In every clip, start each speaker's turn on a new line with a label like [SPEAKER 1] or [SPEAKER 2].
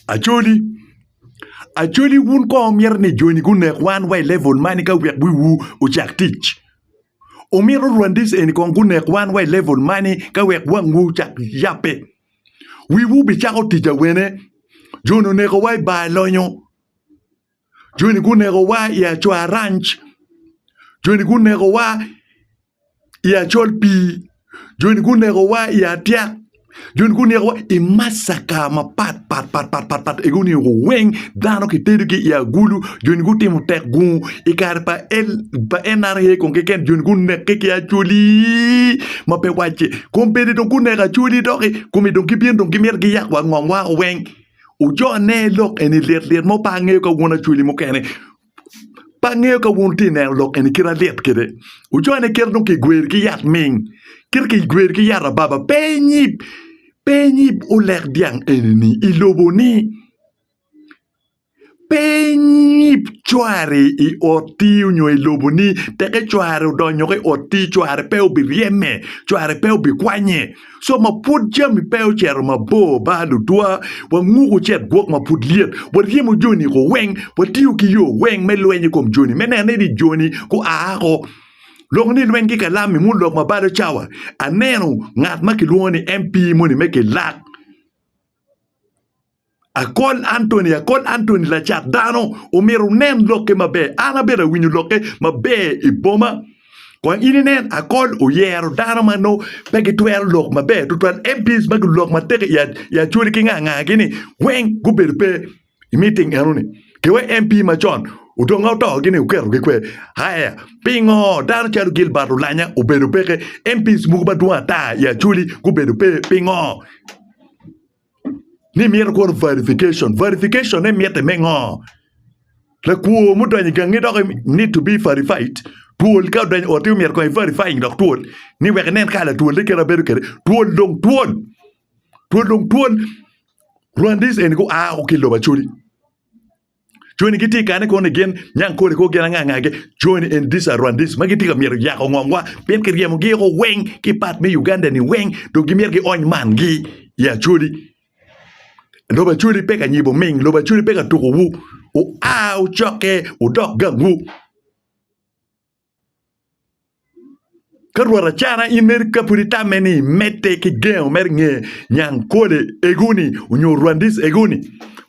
[SPEAKER 1] Acholi, Acholi wun kong myero ni joni gunek wan wa i level mani ka wek bwi wu ocak tic? Omito Rwandese eni kong gunek wan wa i level mani ka wek wang wu ocak yape? Wi wu bi cako tic awene? Joni oneko wa i bar lonyo. Joni gunekowa i Acuaranc, joni gunekowa i Acol Pii, joni gunekowa i Atyak, joni gunekowa i massaka mapat pat pat pat pat pat egi oneko weng dano kitedogi i agulu joni gutimo tek gungu i kare pa L pa NRA kong keken joni gunekke ki Acholi ma pe wacce kong bedi dong guneko Acholi doki kome dong gibino dong gimito giyak wa ngom wako weng. Ojone lok eni lit lit mo pe angeyo ka wun acweli mukene pe angeyo ka wun wutye ka neno lok eni kit alit kwede. Ojone kit dong kigwer ki yat ming kit kigwer ki yat ababa pe inyib pe inyib olek dyang eni i loboni. Pe inyib cwari i otti nyo i loboni, teke cwari odonyo ki i otti, cwari pe obiryeme, cwari pe obikwanye. Co ma pwod jami pe ocito mabor ba ludwa, wanguko cet gwok ma pud lyet, waryemo joni i ko weng, watiyo ki yo weng me lweny i kom joni, me neno ni joni gua oko. Lok ni lweny ki kalam-mi munu lok ma balo cawa. Aneno ngat ma kilwongo ni MP moni me Kilak. Akon Antony Akon Antony lacat dano omyero wunen lokke maber. An abedo awinyo lokke maber i boma. Kong in inen Akon oyero dano ma nongo pe gitwero lok maber tutwal. MPs ma gulok matek i Acholi ki nga nga gini weng gubedo pe i meeting eno ni. Ke wa MP macon odong ka oto gini oketo gi kwer. Aya pingo dano calo Gilbert Olanya obedo peke? MPs mogo madwong ata i Acholi gubedo pe pingo? ni mito kwo verification verification ne mitte me ngo lakwo mudonyo igangi dok need to be verified twol ka odonyo oti myero kong i verifying dok twol ni wek inen ka latwol ne kite ma bedo kede twol dong twol twol dong twol rwandis eni gua woko ki lobo acholi. Coni gitye kane kono ni gin nyang kole kor gin anga angagi coni en disa rwandis ma gitye ka myero yako ngomwa pien kiryemogi oko weng ki pat me Uganda ni weng dong gimyero giony man gi i Acholi lobo Acholi pe ka nyibo ming lobo Acholi pe ka tuko wu wua wucokke wudok gangwu. Ka rwot acara, in mere ka pud itamme ni imedde ki gengo mere nge nyang kole egoni onyo rwandis egoni,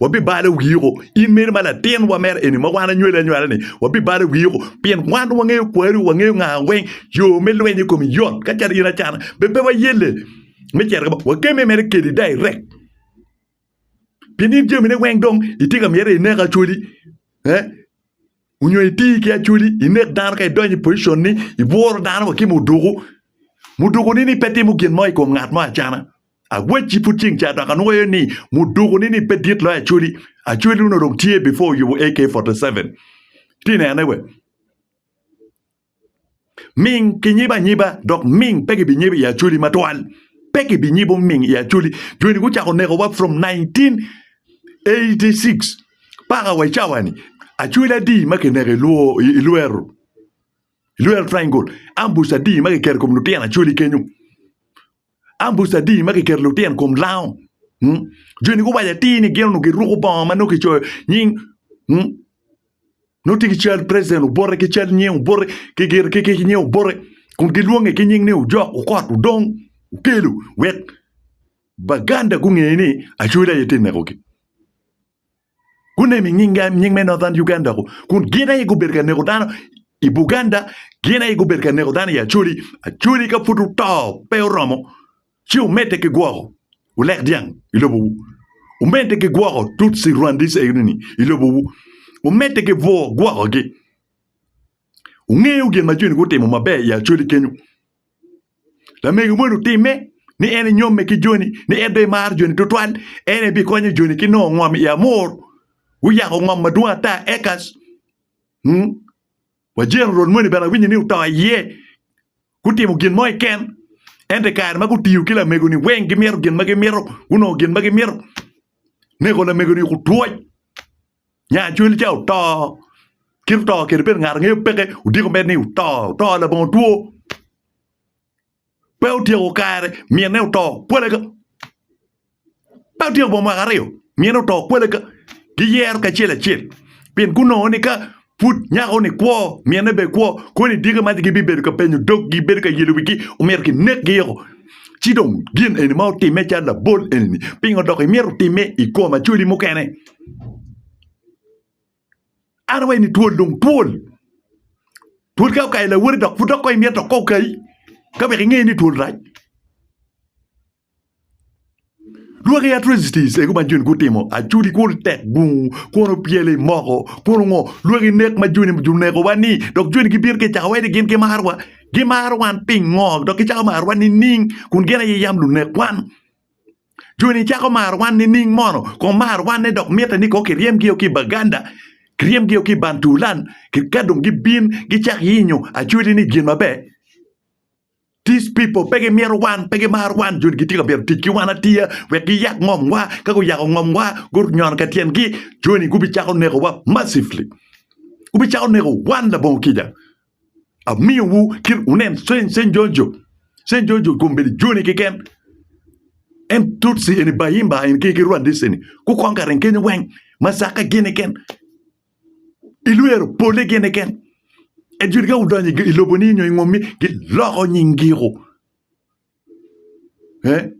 [SPEAKER 1] wabibalo wii oko in mere ma latin wa mere eni ma wan anywali anywala ni wabibalo wii oko pien wan wangeyo kwari wangeyo nga weng yo me lwenyo i komi yot ka calo in acana be pe wayelle me cito kamo, wakemme mere kedi direct pien in jamine weng dong itye ka miti ineko acholi. onyo itir ki acholi inek dano ka idonyo i pocicon ni ibworo dano wa ki muduku, muduku ni ni pe timo gin mo ikom ngat mo acana awacci pud ceng ca dok anwoyo ni muduku ni ni pe dit loyo acholi, acholi onongo dong tye before oyubo AK forty seven, ati nene we. Ming kinyibo anyiba, dok ming pe gibinyibo i Acholi matwal. Pe gibinyibo ming i Acholi. Joni gucako nekowa from 1986 paka wa i cawani. Acholi adi ma kineko i Luo, i Lwero, i Lwero Triangle, ambush adi ma kiketo i kom lutino Acholi kenyo. Ambuc adi ma kiketo lutyen kom lango? Joni guwaco atir ni gin onongo giruko bongo ma nongo kicoyo nying nongo tye ki cal president Obote ki cal nying Obote ki gire ki nying Obote kun gilwonge ki nying ni Ojok, Okot, Odong, Okello wek Baganda gunge ni Acholi aye tye nekogi. Guneno i nying me Northern Uganda ku, kun gin aye gubedo ka neko dano i Buganda, gin aye gubedo ka neko dano i Acholi. Acholi ka pud wuto pe oromo ci wumedde ki gwoko Wulek Dyang i lobowu, wumedde ki gwoko Tutsi Rwandese enini i lobowu, wumedde ki bwoo gwokogi. Wungeyo gin ma joni gutimo maber i Acholi kenyo. Lamego moni otimme ni en enyomme ki joni, ni en dong emaro joni tutwal, en ebikonyo joni ki nongo ngom i amur. Guyako ngom madwong ata eka mm wajen orot moni bene awinyo ni oto iye. Gutimo gin mo keken ento i kare ma gutiyo ki lamego-ni weng gimito gin ma gimito, gunongo gin ma gimito. Neko lamego-ni okutwoc. Nya cwiny lica oto. Kit oto kene bedo ngat angeyo peke odiko mere ni oto oto labongo two pe otyeko kare mine oto pole ka pe otyeko bot mwaka aryo mine oto pole ka giyero kacel acel pien gunongo ni ka Pud nyako-ni kwo, minne bene kwo, kono i dyegi mac gibibedo ka penyo doggi, gibedo ka yelo wigi, omyero kinekgi woko. Ci dong, gin eni ma otimme calo labol eni-ni, pingo dok imyero otimme i kom acwali mukene? An awaci ni twol dong twol. Twol ka okayo lawoti dok pud dok kong imyero dok kong okayi, ka wek inge ni twol rac. Lwak i Atrocities egu ma Joni gutimo acudi kun tek bungu kun opyelo i moko kun ongo lwak i nek ma Joni onekowa ni dok Joni gibino ki cako wai ni gin gimarowa gimaro wan pingo dok gicako marowa nining kun gin aye yam lunek wan Joni cako maro wan nining mono kong mar wan ne dok mite ni kong kiryem gi o ki Baganda kiryem gi o ki Bantulan kadong gibin gicak yenyo acudi ni gin maber. These people pe gimito wan, pe gimaro wan, joni gitye ka myero tic ki wan atiya wek giyak ngomwa, ka guyako ngomwa gunyono ka tyengi, joni gubicako nekowa massively, gubicako neko wan labongo kica. Amiyowu kit wunen Seny Seny Jojo, Seny Jojo kono bedo joni keken, en Tutsi eni Bahimba eni ki ki Rwandese-ni gukong ka reng kenyo weng, Masaka gin eken. ilwero pole gene ken. Ejud ka udonyo i lobo ni nyo i ngom ni giloko nying giko. Eh?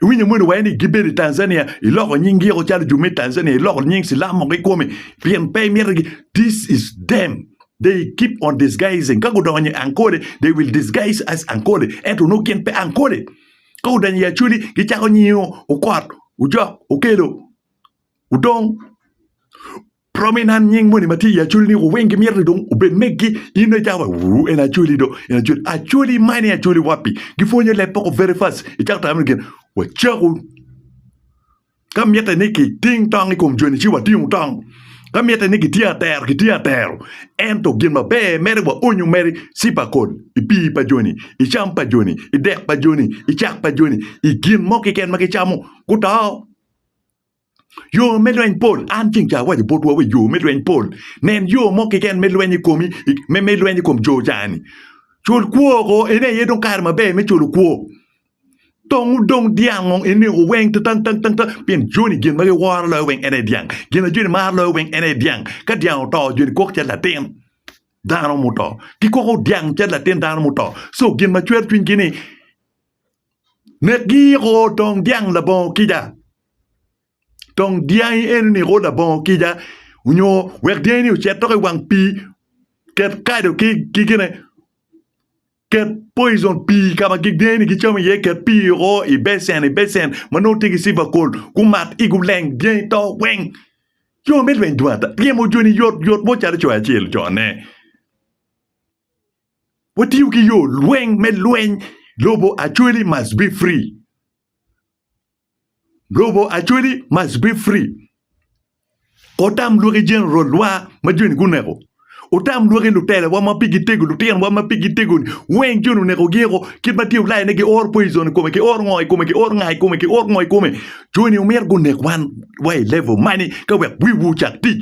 [SPEAKER 1] Iwinyo moni waye ni gibedo i Tanzania, iloko nying giko calo ju me Tanzania, iloko nying silam moko i kome, pien pe imito gi. This is them. They keep on disguising. Ka gudonyo i Ankole, they will disguise as Ankole. Ento onongo gin pe Ankole. Ka udonyo i Acholi, gicako nyingo, okot, ujok, okelo. odong romi na nying moni ma tye i acholi ni weng gimito ni dong obed megi in dong icako wa en acholi do en acholi, acholi mani acholi wapi gipwonyo leb moko very fast icako tamo gin wacako ka mitte ni kiting tong i kom joni ci watingo tong ka mitte ni kitye atero kitye atero ento gin maber mere waonyo mere ci pa kol i pii pa joni i cam pa joni i dek pa joni i cak pa joni i gin mo keken ma gicamo guto. Yo me lweny pol. An ceng ca awaco botwa wa yo me lweny pol. Nen yo mo keken me lweny i komi, me me lweny i kom jo cani. Cul kwo oko, ene aye dong kare maber me culo kwo. Tong udong dyang ong ineko weng tang tang tang tang pien joni gin ma giworo loyo weng ene dyang. Gin a joni maro loyo weng ene dyang. Ka dyang oto joni kok cal latin dano muto. Gikoko dyang cal latin dano muto. So gin ma cwer cwinygi ni Nget giyiko tong dyang labongo kica. Tong dyangi eni niko labongo kica nyo wek dyangi ni ocit dok i wang pii ket kado ki gine ket poison pii ka ma dyangi ni gicamo iye ket pii woko i becen i becen ma nongo tye ki cipakol gumat ci guleng dyangi to weng yo me lweny dong ata ryemo joni yot yot mo calo coyo acel ocone. Watiyo ki yo lweny me lweny lobo actually must be free. Lobo actually must be free. Otam lwaki general wa ma joni guneko. Otam lwaki lutelawa ma pigi tego lutino wa ma pigi tego ni weng joni oneko gi eko kit ma tye ulaya ne gi or poison i kome ki or ngo i kome ki or nga i kome ki or ngo i kome joni omito gunek wan wa i level mani ka wek wiwu ocak tic